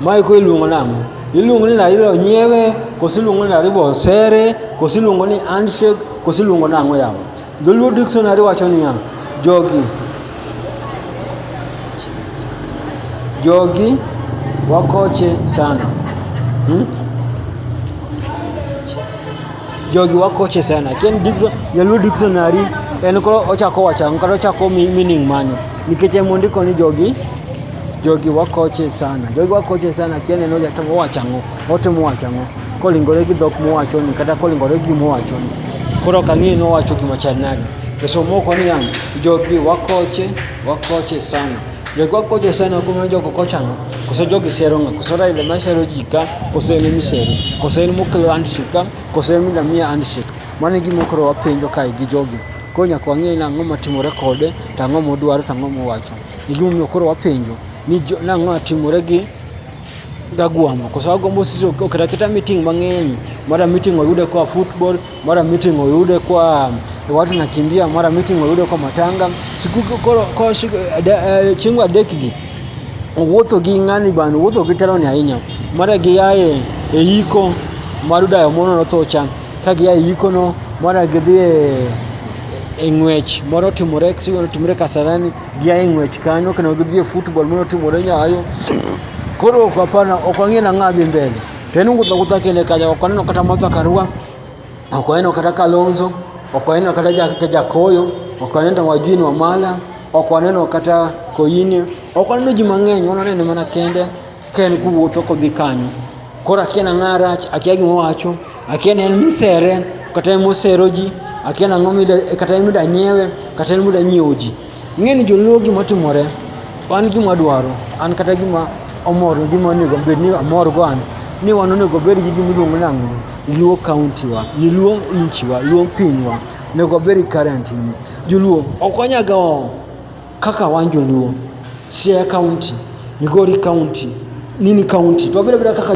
Mae koro iluongo nang'o? Iluongo ni naribo nyiewe, koso iluongo ni naribo sere, koso iluongo ni handshake, koso iluongo nang'o yawa? Dholuo dictionary wacho niya, jogi jogi wakoche sana. Hmm? jogi wakoche sana ken dikso jaluo dictionary en koro ochako wacha kata ochako mi- meaning mane nikech emondiko ni jogi Jogi wakoche sana, jogi wakoche sana, kiane noja to wachang'o, ote mwachang'o, kolingore gi dhok mwachoni kata kolingore gi mwachoni. Koro kang'e no wacho gima chal nade. To somo ko ni yang, jogi wakoche, wakoche sana. Jogi wakoche sana kuma jogo kochang'o. Koso jogi sero ng'a, koso Raila ma sero ji ka, koso en misero, koso en mokelo handshake ka, koso en milamia handshake. Mano e gima koro wapenjo kae gi jogi. Koro nyaka wang'e ni ang'o matimore kode, tang'o modwaro, tang'o mowacho. ni gima omiyo koro wapenjo ni nang'o atimore gi Gagwambo koso Gagwambo sisi oketa keta meeting mang'eny mara meeting oyude koa football mara meeting oyude koa watu nakimbia mara meeting oyude koa matanga siku koro koro eh, chieng' adek gi owuotho gi ng'ani bana owuotho gi teloni ahinya mara giaye e iko mar dayo mono notho cha Ka gia e yikono, mondo gidhi e, e ng'wech moro timore sigoro timore Kasarani, gia e ng'wech kanyo kendo gidhi e football moro timore Nyayo. Koro ok apana, ok ang'e na ng'a dhi mbele. To en wuotho awuotha kende kanyo, ok aneno kata Martha Karua, ok aneno kata Kalonzo, ok aneno kata Jakete Jakoyo, ok aneno Wajini Wamala, ok aneno kata Koyini, ok aneno ji mang'eny, waneno mana kende. Ka en kowuotho kodhi kanyo, koro akia nang'a rach, akia gima owacho, akia ni en misere, kata en mosero ji, akia nang'o mida, kata en mida nyiewe, kata en mida nyiewo ji. Ing'e ni joluo gima otimore, an gima adwaro, an kata gima omor, gima onego bed ni amor go an, ni wan onego bed gi gima iluongo nang'o, Luo county wa, ni Luo inchi wa, Luo pinywa, onego wabed gi currency ni. Joluo ok wanyaga oo, Kaka wan joluo, Siaya County, Migori County, nini County, twabiro bira kaka